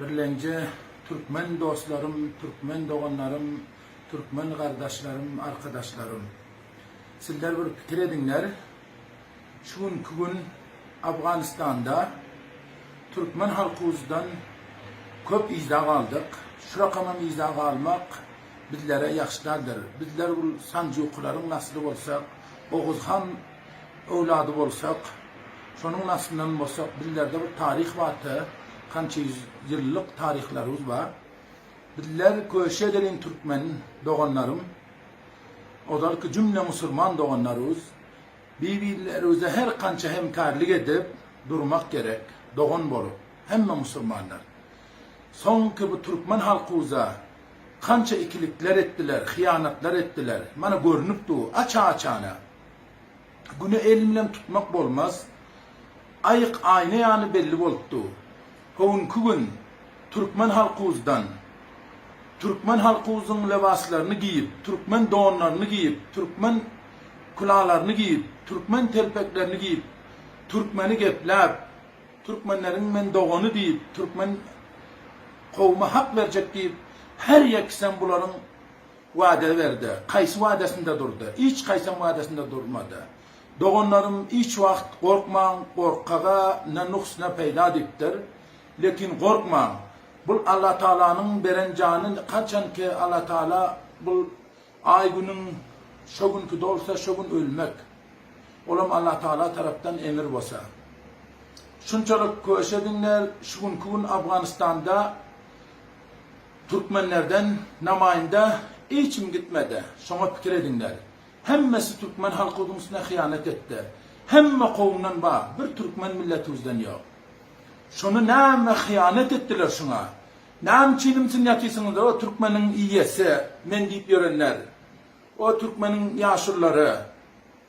Birlenje Türkmen dostlarym Türkmen doganlarym Türkmen gardaşlarym arkadaşlarym Sizler bir pikir ediňler şu günki gün Afganistanda Türkmen halkybuzdan köp yzda galdyk şurakamam yzda galmak bizlere ýagşydardyr bizler bul sanjukylaryň nasly bolsak Oguzhan öwlady bolsak, şonuň naslyndan bolsak, bizlerde bir taryh barka, kança ýüz ýyllyk taryhlarymyz bar. Bizler köşe gelin türkmen doganlarym, ozalky jümle musurman doganlarybz, bir-birlerimize her kança hemkarlik edip durmak gerek, dogan bolup, hemme musurmanlar. Soňky bu türkmen halkymyza kança ikilikler etdiler, hyýanatlar etdiler, mana görnüp dur, aç-açana. Güni el bilen tutmak bolmaz. Aýyk aýna ýaly belli bolup dur. Howunky gün türkmen halkybuzdan, türkmen halkybyzyň lebaslaryny giýip, türkmen donlaryny giýip, türkmen külalaryny giýip, türkmen telpeklerini giýip, türkmeni gepläp, türkmenleriň men dogany diýip, türkmen kowuma hak berjek diýip, her ýekisem bularyň Wada berdi. Kaýsy wadasynda durdy? Hiç kaýsam wadasynda durmady. Doganlarym hiç wagt gorkmaň, gorkaga ne nuks ne peýda diýipdir. Lekin gorkmaň. Bul Alla Tagalanyň beren jany haçanki Alla Tagala bul aý günüň şo günki dolsa şo gün ölmek. Olam Alla Tagala tarapdan emir bosa. Şunçalyk köşediňler şu günki gün Afganistanda. Türkmenlerden namaýynda hiçim gitmedi, şoňa pikir ediňler. Hemmesi türkmen halkybyň üstüne hyýanat etdi. Hemme kowumdan bar, bir türkmen milletibizden ýok. Şony näme hyýanat etdiler şuňa? Näme üçin imsin ýatysyňyz o türkmeniň iýesi men diýip ýörenler. O türkmeniň ýaşululary.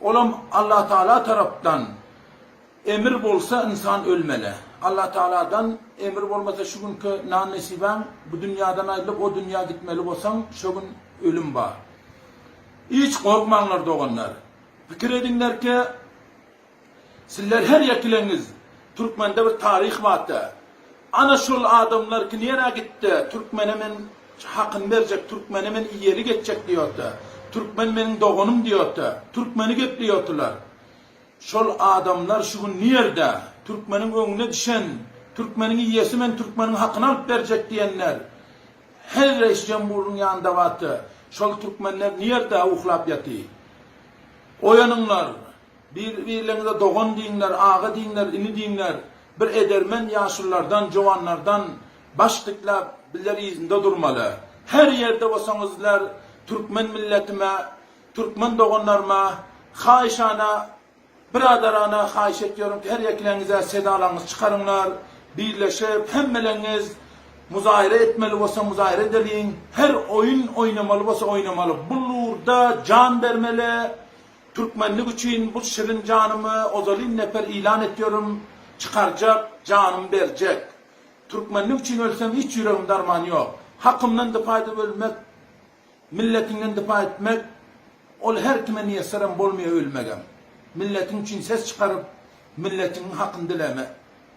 Olam Allatagala tarapdan emir bolsa ynsan ölmeli. Allatagaladan emir bolmasa şu günki nan nesibäň bu dünýadan aýrylyp o dünýä gitmeli bolsaň şo gün ölüm bar. Hiç gorkmaňlar doganlar. Pikir ediňlerkä sizler her ýekileňiz türkmende bir taryh barda. Ana şol adamlar ki nera gitde türkmene men hakyny berjek türkmene men iyeli geçjek diyota türkmen meniň doganym diyota türkmeni gepleyotylar şol adamlar şu gün nirde türkmeniň öňüne dişen türkmeniň iyesi men türkmeniň hakyny alyp berjek diyenler her reis jemburyň yanida bata şol türkmenler nirde uhlap yati oyanyňlar bir birleňize dogan diyiňler aga diyiňler ini diyiňler Bir edermen ýaşullardan, jowanlardan baş dikläp, bizler yzynda durmaly. Her ýerde bolsaňyz sizler türkmen milletime, türkmen doganlaryma haýyşana, biradarana haýyş etýärin ki, her ýekileňize sedalaňyzy çykaryňlar, birleşip, hemmeleriňiz muzaýra etmeli bolsa muzaýra edeliň, her oýun oýnamaly bolsa oýnamaly, bu lurda jan bermeli, Türkmenlik üçin bu şirin janymy ozalyn neper ilan etýorim çykarjak janym berjek Türkmenlik üçin ölsem hiç ýüregimde arman ýok Hakymdan dypa edip ölmek Milletiňden dypa etmek Ol her kime miýesserem bolmaýa ölmegem Milletiň üçin ses çykaryp Milletiňiň hakyn dileme.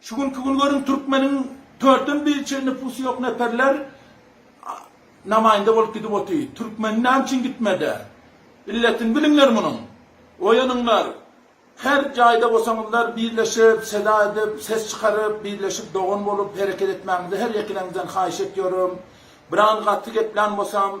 Şu günki gün görüň türkmeniň törtden bir çen nüpusy ýok neperler namaýynda bolup gidip oty. Türkmeni näme üçin gitmede? Illetini biliňler munuň. Oýanyňlar. Her jaýda bolsaňyzlar birleşip seda edip ses çykaryp birleşip dogan bolup hereket etmäňizi her ýekileňizden haýyş etýorim. Biran gaty geplän bolsam.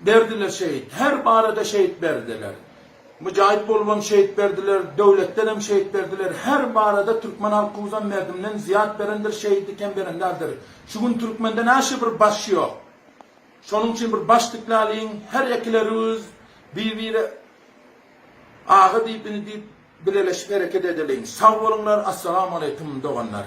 Berdiler şehit, her barada şehit berdiler. Müjahit bolubam şehit berdiler, döwletdenem şehit berdiler, her barada türkmen halkymyzam merdimden zyýat berendir, şehidi kem beren däldir. Şu gün türkmende näşe bir baş ýok. Şonuň üçin bir baş dikläliň, her ekilerüiz bir-bire aga diýip, ini diýip bileleşip hereket edeliň. Sag boluňlar, Assalamu Aleýkum doganlar.